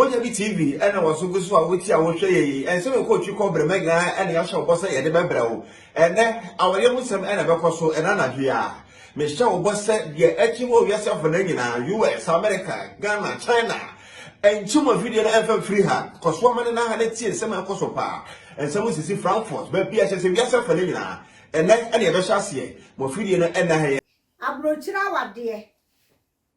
Mojabi TV ɛna wɔn so gu so a wotia wɔhwɛ yɛ yi ɛnsɛm ɛkɔ otwi kɔ brɛ mɛga ɛna yɛahyɛ ɔbɔ sɛ yɛde bɛbrɛ wo ɛnɛ awɔyɛ ho sɛm ɛna ɛbɛkɔ so ɛna anadwo yi a mehyɛ ɔbɔ sɛ deɛ ɛte hɔ wiase afɔ no nyinaa US America Ghana China Nkyem wɔ video no ɛmfa mfiri ha. Kɔ so ma ne nan ha na tie nsɛm a ɛkɔ so paa. Nsɛm sisi Frankfurt, baabi a ɛkyerɛ sɛ wiase afa no nyinaa. Ɛnnɛ na yɛbɛhyɛ aseɛ. Wɔ video no ɛnnɛ ha yɛ. Aburokyire awadeɛ.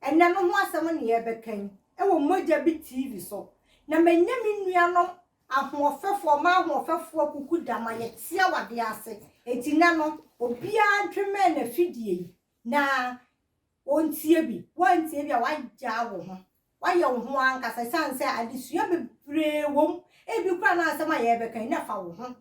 Ɛnnɛ no ho asɛm na yɛrebɛka yi wɔ Mogya Bi TV so. Na manya me nuanom ahoɔfɛfoɔ, m'ahoɔfɛfoɔ Kuku Dama, yɛte awadeɛ ase. Enti nnɛ no, obiara ntwemmɛn n'afidie yi na Wontie bi. Woantie bi a, woagyaa wo ho. Woayɛ wo ho ankasa esiane sɛ adesua bebree wom. Ebi koraa na asɛm a yɛrebɛka yi, na fa wo ho.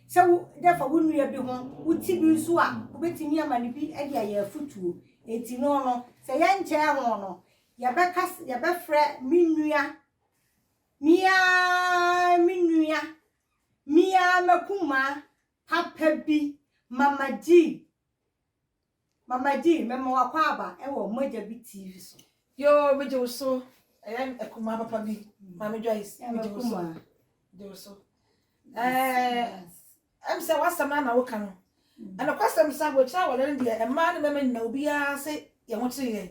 Sɛ wo, dɛ fa wo nua bi ho, wo ti bi nso a, wobetumi ama no bi de ayɛ afotuo. Enti no no, sɛ yɛnkyɛɛ ho no, yɛbɛka sɛ, yɛbɛfrɛ me nua, me ara me nua, me ara m'akumaa, papa bi, Mama Jean, Mama G, mɛma wakɔ aba wɔ Mogya Bi TV so. Yoo me gye wo so ɛyɛ akumaa papa bi maame Joyce me gye wo so gye wo so ɛɛ ɛm sɛ wasɛm na na woka no ɛna kwasɛm sɛ abokyerɛ awɔre no deɛ mmaa ne mmarima nyina obiara se yɛn ho kyere yɛn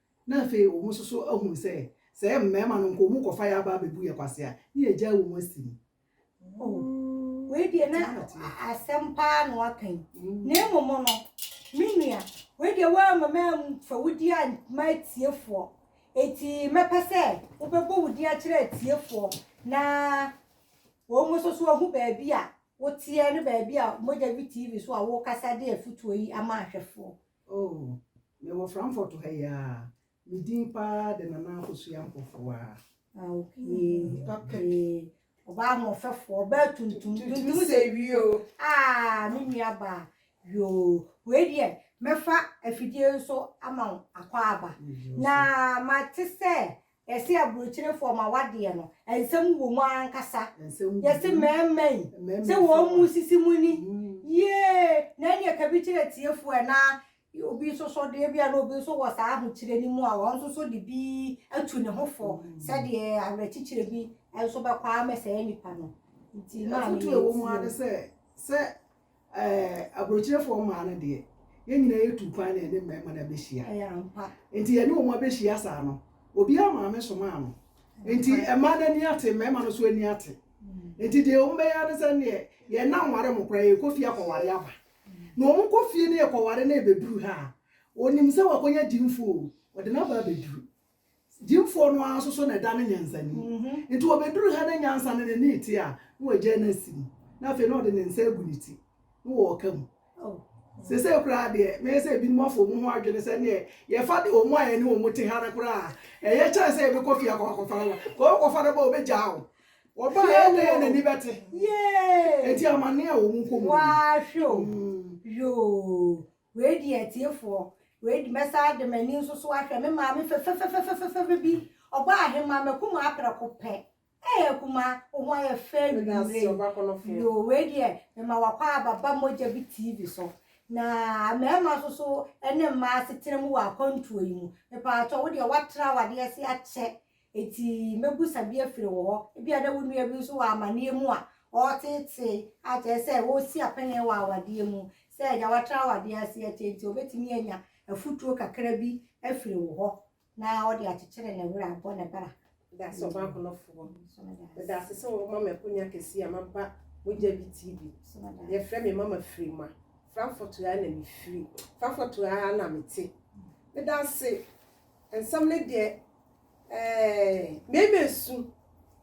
na afei wɔn nso so ahunu sɛ, sɛ ɛyɛ mmarima no nko, wɔkɔfa yɛn aba abɛbu yɛn kwasea a, na yɛagyae wɔn asi mu. O, wei deɛ na asɛm pa ara na waka yi. Na mmom no, me nua, wei deɛ woamma mamfa wo din amma atiefoɔ, enti mɛpɛ sɛ wobɛbɔ wo din akyerɛ atiefoɔ, na wɔn nso so ahu baabi a woteɛ ne baabi a Mogya Bi TV so a worekasa de afotuo yi ama ahwɛfoɔ. Oh, mewɔ Frankfurt ha yi ara. Me din pa ara de Nana Akosua Mpofoaa. Ah, okay. Papa bi. Ɔbaa ahoɔfɛfoɔ, ɔbaa tuntum, tuntum sɛ wie o. Ah, me nua baa, yoo, wei deɛ mɛfa afidie nso ama wo akwaaba. Na mate sɛ Yɛse aburokyerefoɔ ma w'adeɛ no nsɛm wɔ mu ankasa. Yɛse mɛɛma yi sɛ wɔn mu sisi mo ani yiee na ɛneɛ kabi kyerɛ tiefoɔ ɛ na obi nso so deɛ bia na obi nso wɔ saa ahokyerɛ no mu a ɔno nso so de bi atu ne ho fɔ sɛdeɛ awerɛkyekyerɛ bi nso bɛkɔ ama saa nipa no. Nti maame yɛntie mu. Afotuo a ɛwɔ mu ara ne sɛ, sɛ Ɛɛ, aburokyerefoɔ mmaa no deɛ, yɛn nyinaa yɛtu kwan na yɛne mmarima no abɛhyia. Ɛyɛ ampa. Nti yɛne wɔn abɛhyia saa no, obiara maame somaa no. Nti mmaa no ani ate, mmarima no nso ani ate. Nti deɛ wɔbɛyɛ ara ne sɛ neɛ, yɛn nna nware mo koraa, yɛkɔ fie akɔware aba. Na wɔkɔ fie na yɛkɔware na yɛbɛduru ha a, ɔnim sɛ wakɔnya gyimfoɔ o, ɔde no aba abɛduru. Gyimfoɔ no ara nso so na ɛda no nyansani. Nti ɔbɛduru ha na nyansa no n'ani rete a, na wagyae no asi mu, na afei na ɔde ne nsa agu ne ti, na wɔreka mu. Seesei koraa deɛ, mɛyɛ sɛ ebinom afa wɔn ho adwene sɛ ɛnneɛ yɛfa de wɔn a yɛne wɔn te ha no koraa, ɛyɛ kyɛn sɛ yɛbɛkɔ fie akɔ akɔfa no ba. Kɔ wokɔfa no ba a, wɔbɛgyaa wo. Wɔba a, ɛnneɛ yɛn ani bɛte. Enti amanneɛ a wɔn kɔ mu no. Waa hwɛ o. Yoo. Wei deɛ atiefoɔ, wei de mɛsan de m'ani nso so ahwɛ me maame fɛfɛfɛfɛfɛfɛfɛ bi, ɔbaa ahemaa m'akumaa prɛko pɛ, ee akumaa wo ho ayɛ fɛ anwummerɛ yi, yoo wei deɛ mema w'akwaaba ba mogya bi TV so, na mmarima nso so ne mmaa asetena mu wɔ akwantuo yi mu, mepaakyɛw wo deɛ woatra w'adeɛ ase akyɛ Enti mɛbisa bi afiri wo hɔ. Ebia na wo nua bi nso wɔ amanneɛ mu a ɔreteetee, a kyerɛ sɛ ɔresi apaneɛ wɔ awadeɛ mu, sɛ deɛ watra awadeɛ ase akyɛ nti, ɔbɛtumi anya afutuo kakra bi afiri wo hɔ na ɔde akyekyere ne werɛ abɔ ne bra. Meda ase Ɔbaakonofoɔ. Meda ase sɛ wɔma me akonnwa kɛseɛ a maba Mogya Bi TV. Yɛfrɛ me Mama Firima. Frankfurt ha na mefiri. Frankfurt ha ara na mete. Meda ase Nsɛm no deɛ ɛɛ mmarima esu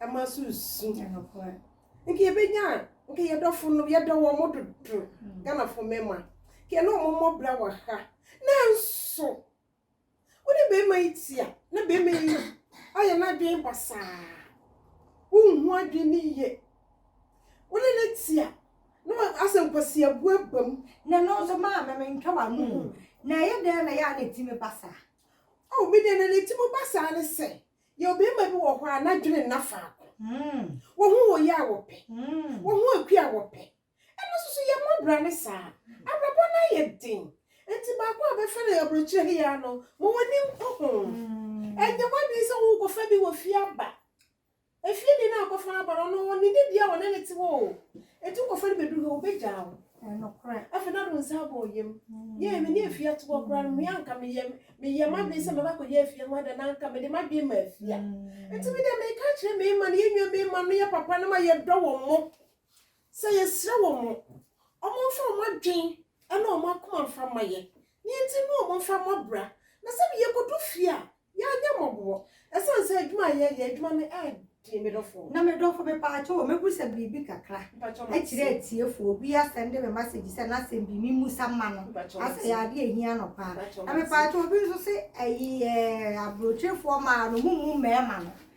ɛma nso esu nka yɛbɛnya nka yɛdɔfo no yɛdɔ wɔn mo dodo hmm. Ghanafo mmarima nka yɛne wɔn mmɔ bra wɔ ha nanso wone barima yi tia na barima yi ayɛ n'adwene basaa wonhu adwene ne yie wone ne tia No a asɛ nkwasiabu aba mu. Na no nso maame me ntwa w'ano mu. Na ɛyɛ dɛn na ɛyɛ a na eti me ba saa? Oh, me deɛ na na eti mo ba saa ne sɛ yɛwɔ barima bi wɔ hɔ a n'adwene nna faako. Wɔn ho wɔ yɛ a wɔpɛ. Wɔn ho akua a wɔpɛ. Ɛno nso so yɛmmɔ bra ne saa. Abrabɔ no ayɛ den. Enti baako a bɛfrɛ no aburokyire he aa no, ma w'ani nkɔ ho. Ɛnyɛ w'adwene sɛ worekɔfa bi wɔ fie aba. Efie de na akɔfa abɔrɔ no wɔ ne dibea wɔ na ne te hɔ o. Etu kɔ fa no bedu ha obegyaa wo. Afei na do nsa abɔ ɔyam. Yɛɛ me ne Afia to hɔ koraa no me a nka meyɛ meyɛ m'adwene sɛ mɛba akɔyɛ Afia ho ade anaa nka mede m'adwene ma Afia. Nti me deɛ meka akyerɛ Meeman yɛn nua Meeman no yɛ papa na ma yɛdɔ wɔn mo. Sɛ yɛsrɛ wɔn mo, wɔmfa wɔn adwen ne wɔn akoma mfa mma yɛn, nea enti ne wɔn mfa mmɔ bra, na sɛdeɛ yɛkɔdu fie a, yɛanyɛ mmɔboɔ, ɛsiane sɛ adwuma a yɛyɛ, adwuma no yɛ den, me dɔfoɔ. Na me dɔfo, mepaakyɛw o, mɛbusa biribi kakra akyerɛ atiefoɔ, obi asɛn de me masegyi sɛ n'asɛm bi memmusa mma no, asɛ ɛyɛ adeɛ a ɛhia no paa, na mepaakyɛw obi nso se ɛyɛ aburokyirifoɔ mmaa no, mommu mmarima no,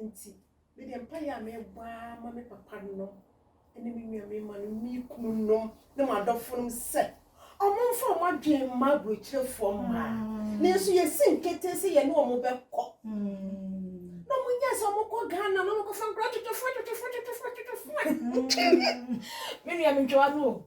Enti, me deɛ mpaeɛ a mebɔ ara ma me papanom ne me nuammarimanom ne me kununom ne m'adɔfonom sɛ, wɔmfa wɔn adwene mma aburokyerefoɔ mmaa. Nanso yɛsi nketee sɛ yɛne wɔn bɛkɔ. Na wɔnyɛ sɛ wɔkɔ Ghana na wɔkɔfa nkora twetwefoɔ twetwefoɔ twetwefoɔ twetwefoɔ. Me nua mentwa w'ano o.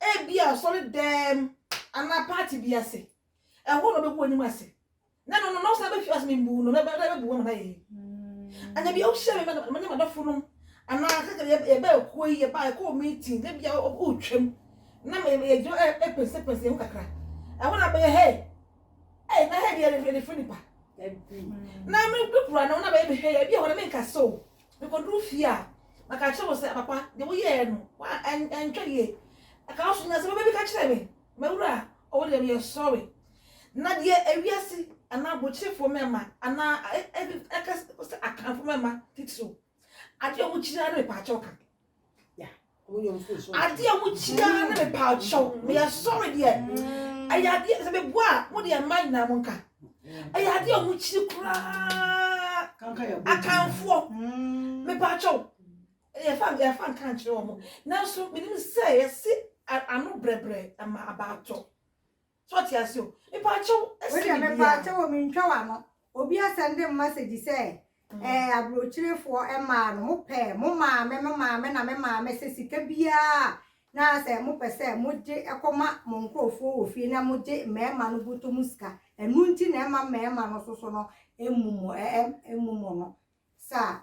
ebia asɔredan anaa party bi ase. Ɛhɔ na ɔbɛgu anim ase. Na no no na ɔsan bɛhwɛ ase mbu no bɛbu wɔn ayɛ yi. Ɛna bi wohyɛ me ma ne madɔfo nom anaa sɛ yɛbɛ ɛkuo yi yɛba ɛkɔ meeting na bia wotwam na yɛgyina ɛpɛnsɛpɛnsɛ yɛn ho kakra. Ɛhɔ na bɛyɛ hei ei na hei deɛ yɛde frɛ nipa. Na me kura no na bɛyɛ mehwɛ yɛ bi ɛhɔ na menka so. Mekoduu fie a, na ka kyerɛ wɔn sɛ, Papa, deɛ woyɛɛ no, woantwa yie. Ɛka wo so nyinaa sɛ bɛba bɛka kyerɛ me, M'awura, ɔwɔ deɛ meyɛ sɔre. Na deɛ ewiase anaa abukyerefoɔ mmarima anaa ɛka sɛ Akanfoɔ mmarima titiriw, adeɛ a wɔkyiri ara ne mepaakyɛw ka. adeɛ a mokyia ne me paa kyɛw meyɛ sɔre deɛ ɛyɛ adeɛ sɛ meboa a mo deɛ mma nyinaa mo nka ɛyɛ adeɛ a mokyiri koraa akanfoɔ mepaa kyɛw yɛfa yɛfa nka nkyerɛ wɔn nanso menim sɛ yɛse ano brɛbrɛ ama abaatɔ So ɔte ase o. Mepaakyɛw, ɛsen biribiara. Wei deɛ mepaakyɛw o, mentwa w'ano. Obi asɛnde mmasegyi sɛ, Ɛɛ, aburokyerefoɔ mmaa no, mopɛ mo maame, me maame na me maame sɛ sika biara a na sɛ mopɛ sɛ mogye kɔma mo nkurɔfoɔ wɔ fie na mogye mmarima no bɔtɔ mu sika. Ɛno nti na ɛmma mmarima no nso so no mmu mo, ɛɛ, mmu mo no. Saa.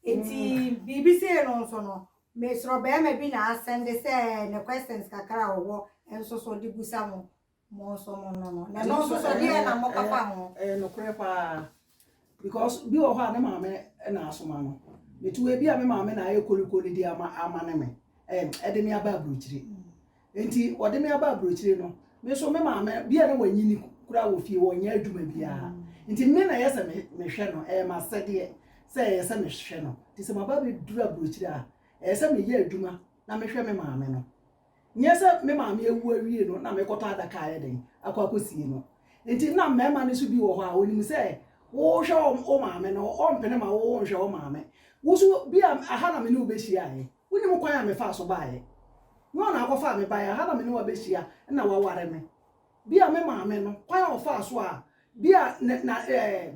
Enti biribi sei no nso no, me soro barima bi na asɛnde sɛ ne questions kakra a ɔwɔ nso so de busa mo, mo nso mo no no. Na ɛno nso so deɛ na mo papa ho. Ɛyɛ nokorɛ paa. Because bi wɔ hɔ a ne maame na asoma no. Metu ebi a me maame na ayɛ koliko no di ama ama ne me. Ɛm ɛde me aba aburokyire. Enti wɔde me aba aburokyire no, me nso me maame bi a na wanyini koraa wɔ fie hɔ, ɔnyɛ adwuma biara. Nti me na ɛyɛ sɛ me mehwɛ no, ɛyɛ m'asɛdeɛ sɛ ɛyɛ sɛ mehwɛ no. Nti sɛ maba abɛduru aburokyire a, ɛyɛ sɛ meyɛ adwuma na mehwɛ me maame no. Nyɛ sɛ me maame awu awie no na mekɔtɔ adaka ayɛ dɛn akɔ akɔsie no. Nti na mmarima no nso bi wɔ hɔ a, wɔnim sɛ wohwɛ wo maame no, wɔmpene ma wo wonhwɛ wo maame. Wo nso bi a, aha na me ne wo bɛhyiaeɛ. Wonim kwan a mefaa so baeɛ? Nyɔɔ na akɔfaa me baeɛ? Aha na me ne wo abɛhyia na woaware me? Bi a me maame no, kwan a ɔfaa so a, bi a ne, na, eh,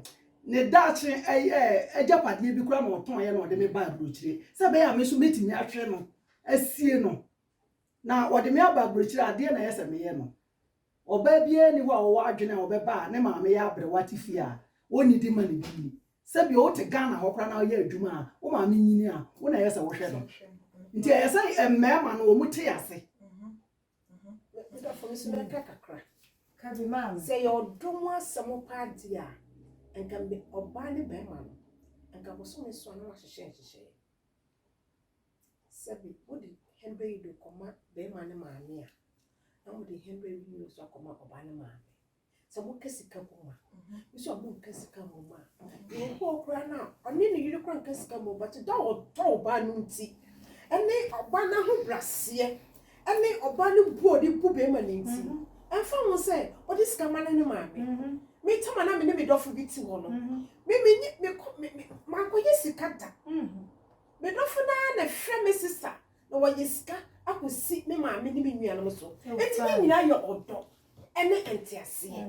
ne daakye, eh, eh, agyapadeɛ bi koraa na ɔtɔeɛ na ɔde me baa aburokyire, sɛ ɛbɛyɛ a me nso mɛtumi ahwɛ no, asie no, na ɔde me aba aburokyire a, adeɛ na ɛyɛ sɛ meyɛ no. Ɔbaa biara nni hɔ a ɔwɔ adwene a ɔbɛba a ne maame yɛ aberewa te fie a onnidi mma ne din. Sɛbi wote Ghana hɔ koraa na woyɛ adwuma a wo maame nyini a, wo na ɛyɛ sɛ wohwɛ no. Nti ɛyɛ sɛ mmarima no wɔte ase. Me dɔfo me nso mɛka kakra. Ka bi ma me. Sɛ ɛyɛ ɔdɔ mu asɛm paa deɛ a, nka ɔbaa ne barima no, nka bosome nson na wɔahyehyɛ nhyehyɛeɛ. Sɛbe mode hɛndɔ yi do kɔma barimba ne maame a, na mode hɛndɔ yi bi so akɔma ɔbaa ne maame. Sɛ mokã sika mbom a, bi so a monnkã sika mbom a. Bi wɔ hɔ koraa no a, ɔnye no yer koraa nnkã sika mbom, but dɔ a ɔdɔ ɔbaa no ntsi, ne ɔbaa n'ahobrɛaseɛ, ne ɔbaa no bo a ɔdze bu barimba no ntsi, ɔmmfa ho sɛ ɔdze sika ma no ne maame. Me tam a nna me ne me dɔfo bi tse hɔ no, me menye, mekɔ, me, me, mannkɔyɛ sika da. Me dɔfo no ara na ɛhwɛ me sesa na wɔyɛ sika akosi me maame ne me nuanom so. Enti ne nyinaa yɛ ɔdɔ ne nteaseɛ.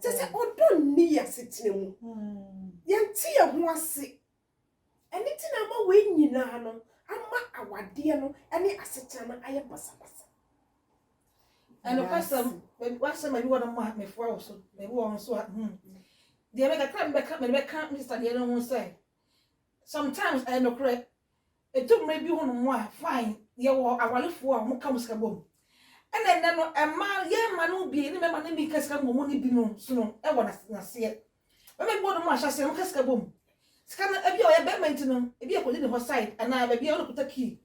Kyɛ sɛ ɔdɔ nni yɛ asetena mu. Yɛnte yɛ ho ase. Ɛno nti na ama wei nyinaa no ama awadeɛ no ne asetena no ayɛ basabasa. Ɛnokwasɛm, baabi w'asɛm baabi wɔ no ma mefoa wo so, baabi wɔ nso a hmm. Deɛ mɛka, kra mebɛka, mede bɛka me sesa deɛ no ho sɛ, Sometimes ɛyɛ nokorɛ. Ɛdu mmerɛ bi ho nom a, fine, yɛwɔ awarefoɔ a wɔka wɔn sika bɔ mu. Ɛna ɛnnɛ no, mmaa, yɛn mma no bi, ne mmarima no bi ka sika mmɔ mu no bi no so no wɔ n'aseɛ. Mmarima bi wɔ nom ahyɛ aseɛ no, wɔka sika bɔ mu. Sika no, ebi a ɔyɛ barima nti no, ebi a ɛkɔdi ne hɔ side, anaa baabi a ɔno na ɔkuta key.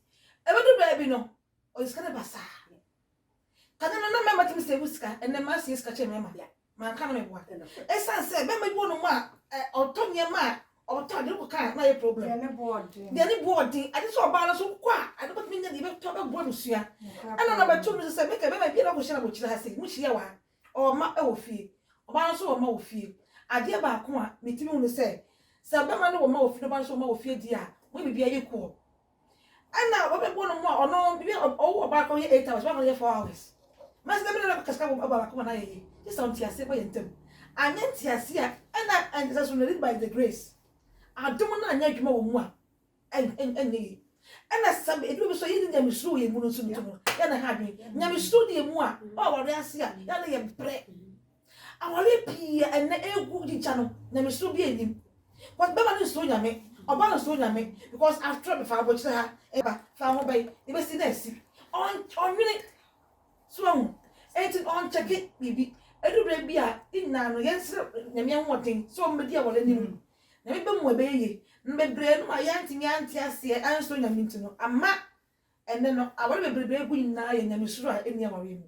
Ɛbɛduru baabi no, ɔde sika no basaa. Kane no, na mmarima tumi save sika, ɛnnɛ mmaa save sika kyɛn mmarima. Manka no me boa. Ɛsan sɛ bɛma bi wɔ nom a ɔtɔ nneɛma a ɔtɔ ade kɔ kaa na ayɛ problem. Deɛ ne bo ɔden. Deɛ ne bo ɔden. Ade sɛ ɔbaa no nso wokɔ a ade bɛtumi nya deɛ bɛtɔ bɛboa abusua. Ɛna na bɛto no so sɛ meka bɛma bi na ɔkɔhyia na bɔkyiri ha sei mohyia wɔ ha. Ɔwɔ mma wɔ fie. Ɔbaa no nso wɔ mma wɔ fie. Adeɛ baako a metumi hu ne sɛ sɛ bɛma no wɔ mma wɔ fie na ɔbaa no nso wɔ mma wɔ fie deɛ a wɔyɛ biribiara yɛ kuɔ. Ɛna wɔbɛbɔ no mu a ɔno bibi ɔwɔ ɔbaa kɔ yɛ eight hours ɔbaa kɔ yɛ four hours mɛsɛ dɛm na ɔbɛkɔ kasika bɔ ɔbaa baako ma n'ayɛ yie gye sɛ nteaseɛ bɔ yɛn ntam anyɛ nteaseɛ a ɛna ɛnsɛ so no lead by the grace adom no anyɛ adwuma wɔ mu a ɛnyɛ yie ɛna sɛ edu baabi so yɛ ne nyamesuro wɔ yɛn mu no nso no yɛ na ha adwene nyamesuro ne yɛn mu a ɔwɔ awareɛ ase a yɛ na yɛn pere Awareɛ pii a ɛnnɛ ɛregu gya no, nyamesuro biara nnim. Because bɛma no nsuro Nyame, ɔba no nsuro Nyame because after all mefa abokyire ha ɛba, fa ho bɛn, yɛbɛsi no asi. Ɔnnwene, so wahu, enti ɔnkyɛke biribi. Ɛduru berɛ bi a, yɛn nyinaa no yɛnsrɛ Nyame ahoɔden sɛ ɔmmɛdi awareɛ no mu. Nyame bɛma mu a ɛbɛyɛ yie. Na bebree nom a yɛantumi ante aseɛ ansuro Nyame nti no ama ɛnnɛ no awareɛ bebrebe a ɛgu nyinaa yɛ nyamesuro a ɛnni awareɛ mu.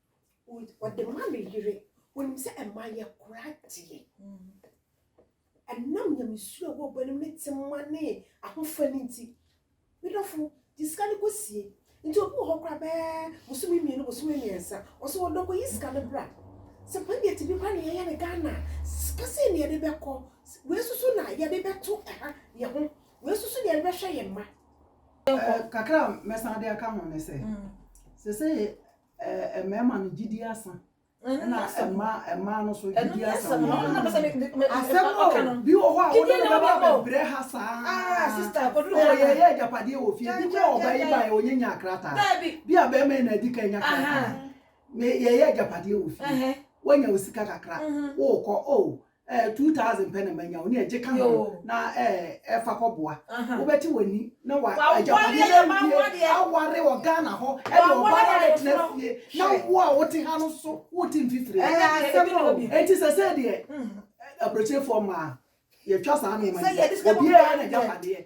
ɔde ma ne yere wɔnim sɛ ɛma yɛ kora deɛ ɛnam nyamesuo a wɔbɔ no ne tema ne ahofa no nti medɔfo de sika no kɔsie nti obi wɔ hɔ kora bɛɛ bosome mmienu bosome mmiɛnsa ɔsɛ wɔdɔ kɔyi sika no bra sɛ panyɛti bi kora ne yɛyɛ ne ghana sika sɛ ne yɛde bɛkɔ wei soso na yɛde bɛto ɛha yɛ ho wei soso na yɛde bɛhwɛ yɛ mma kakra mɛsan de aka ho ne sɛ sɛ sɛ Mmarima no gyidi asa. Ɛna mmaa mmaa no so gyidi asa. Ɛno nyɛ asɛm na ɔpɛ sɛ asɛm o bi wɔ hɔ a wɔde ne bɛba abɛbrɛ ha saa. Sista akɔduru hɔ yɛ yɛ agyapadeɛ wɔ fie bi kɔ ɔba yi ba yɛ onye nya krataa. Daabi. Bi a bɛrima yi na adi kan nya krataa. Me yɛ yɛ agyapadeɛ wɔ fie. Wanya osika kakra. Wokɔ o Eh, two thousand pɛ na manya o, ne ɛgye ka ho na eh, ɛfa kɔboa. Wobɛte w'ani na wa agyapadeɛ no awie aware wɔ Ghana hɔ ɛde ɔbaa no abɛtena fie na wo a wote ha no so wote mfifire. Ɛyɛ asɛm o. Enti sɛ sɛ deɛ aburokyerefoɔ mmaa yɛtwa saa nneɛma no, obiara yɛ n'agyapadeɛ.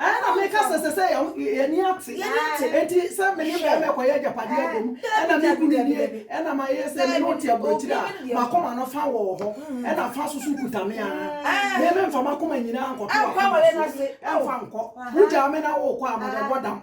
ɛna meka sɛ sɛ sɛ yɛni ate enti sɛ mene bɛma ɛkɔyɛ agyapadeɛ abom ɛna mekunu nie ɛna mayɛ sɛ mene wote aburokyiri a makoma no fa wɔ hɔ ɛna fa so so kuta me a meme mfa makoma nyinaa nkɔto akoma so ɛmfa nkɔ wogyaa me na wokɔ a mede bɔ dam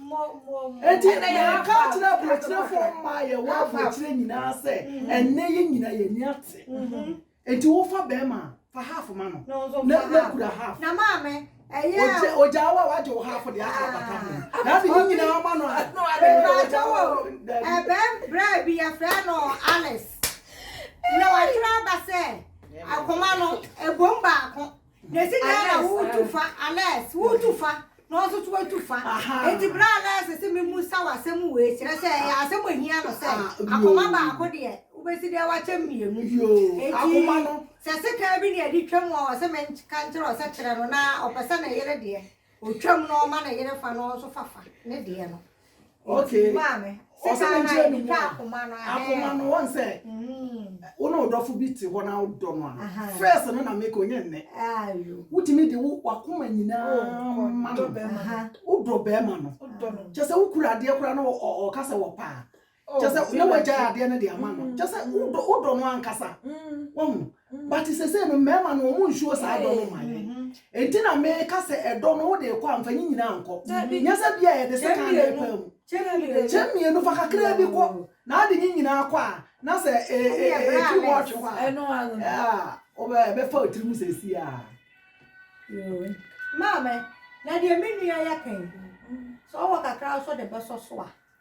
Enti meka akyerɛ aburokyerɛfoɔ mma a yɛwɔ aburokyerɛ nyinaa sɛ ɛnnɛ yɛ nyina yɛn ani ate. Enti wofa bɛrima a, fa half ma no na na kura half. Na maame, ɛyɛ a. Ogyaa wo a wagye wo half deɛ aka abata ho. Na ade ne nyinaa ma no a. Mepakyɛ wo, ɛbɛn berɛ bi yɛfrɛ no Alice. Na watwerɛ aba sɛ akoma no ɛbom baako. Nesi da na wotu fa, Alex, wotu fa na ɔno nso watu fa. Enti berɛ a Alex se memmisa wo asɛm wei, kyerɛ sɛ ɛyɛ asɛm a ɛhia no sɛ akoma baako deɛ wobɛsi dɛn wakyɛ mmienu. Enti sɛ sekan bi na ɛde twam a ɔse menka nkyerɛ wo sɛ kyerɛ no na ɔpɛ sɛ ne yere deɛ ɔtwam na ɔma ne yere fa na ɔno nso fa fa ne deɛ no. Okay. Maame. Ɔsɛ ne nkyerɛ ne mu. Akoma no. Akoma no wɔn sɛ. Wo ne ɔdɔfo bi te hɔ na wodɔ no a. First no na make onye nnɛ. Wotumi de wo wakoma nyinaa ma no. Wodɔ bɛrima no. Kyɛ sɛ wokura adeɛ koraa na ɔka sɛ wɔpaa. Oh, kyɛ sɛ na feel like wagyae you. adeɛ no de ama no Mm, kyɛ sɛ mm, wodɔ wodɔ no ankasa mm, wahu mm. but sesei no mmarima no ɔmo nsuo saa dɔ no Hey. ma yɛn Mhm. enti na meka sɛ ɛdɔ no wode kɔ amfa nyi nyinaa nkɔ Dabi. nyɛ sɛ bia yɛde Kyɛ sika na mmienu. ɛpaa mu Kyɛ Dabi, mmienu. dabi. kyɛ mmienu fa kakraa bi kɔ Oh. na ade nyi nyinaa kɔ a na sɛ e- e- Ɛne e- ɛbrɛ ɛtiri hɔ Alex. atwe hɔ a Ɛno ano. ah, wobɛ- ɛbɛfa wo tirim sɛsi a Yoo. Maame, na deɛ me nua yɛ kan. Sɛ ɔwɔ kakra nso de bɛsɔ so a,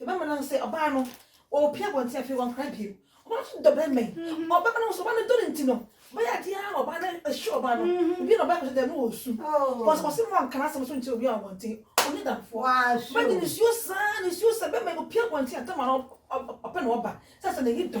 Yɛbɛma no ahu sɛ ɔbaa no ɔrepia abɔnten afei wankora bio. Ɔbaa no nso dɔ barima yi. Mhm. Ɔbɛma no ahu sɛ ɔbaa no dɔ no nti no, ɔbɛyɛ adeɛ ara ma ɔbaa no ahyɛ ɔbaa no. Mhm. Ebi na ɔbaa kɔsɛ dɛm no wɔ su. Wɔsɛ wɔsɛ mu anka n'asɛm so nkyerɛ obi a abɔnten. Ɔnyɛ damfoɔ. Ɔbaa de ne suo saa, ne suo sɛ bɛma ɔpia abɔnten a tama no ɔpɛ na ɔba. Sɛ sɛ n'ani dɔ.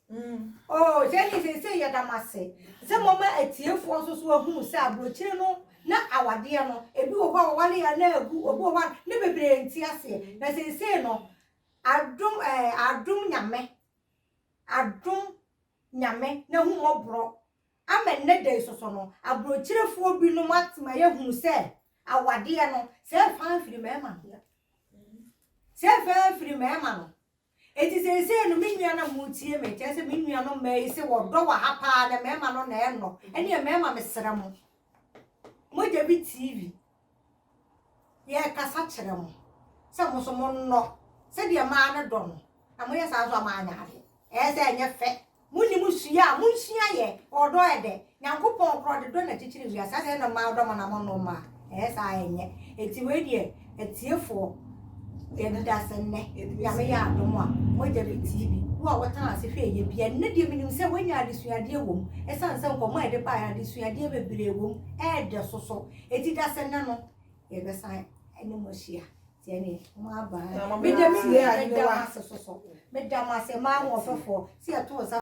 Oh, sɛ ne seesei yɛda mo ase sɛ moama atiefoɔ nso so ahunu sɛ aburokyire no na awadeɛ no, ebi wɔ hɔ a wɔware a na agu, obi wɔ hɔ a ne bebree nte aseɛ. Na seesei no, adom, eh, adom Nyame, adom Nyame n'ahummɔborɔ ama nnɛ da yi so so no, aburokyirefoɔ binom atema yɛahunu sɛ awadeɛ no, sɛ ɛfaa firi mmarima no, sɛ ɛfaa firi mmarima no, Enti seesei no, me nuanom a moretie me, kyerɛ sɛ me nuanom mmaa yi, sɛ wɔdɔ wɔ ha paa na mmarima no na ɛnnɔ, ɛnneɛ mmarima mesrɛ mo, mogya bi TV, yɛrekasa kyerɛ mo sɛ mo nso monnɔ sɛdeɛ mmaa no dɔ no, na moyɛ saa nso a moanyɛ adeɛ. Ɛyɛ sɛ ɛnyɛ fɛ. Mo nim sua a mo nsua yɛ ɔdɔ ɛdɛ Nyankopɔn korɔ de dɔ na kyikyiri wiase asɛ ɛna ɔmaa ɔdɔ mana mo nom a ɛyɛ saa a ɛnyɛ eti wei deɛ atiefoɔ yɛ de da sɛ nnɛ Nyame yɛ adom a moagya bi TV wo a wo tena ase hwɛ ɛyɛ bi a nnɛ deɛ me nim sɛ wanya adesuadeɛ wɔ mu ɛsan sɛ nkɔmɔ a yɛde baeɛ no adesuadeɛ bebree wɔ mu ɛɛdɛ soso eti dasɛ nnɛ no yɛbɛsan ɛne mo ahyia. Tiɛ me, mo aba ha. Me de me nua a ne wa. Me da mo ase ma ahoɔfɛfoɔ si ɛto nsa.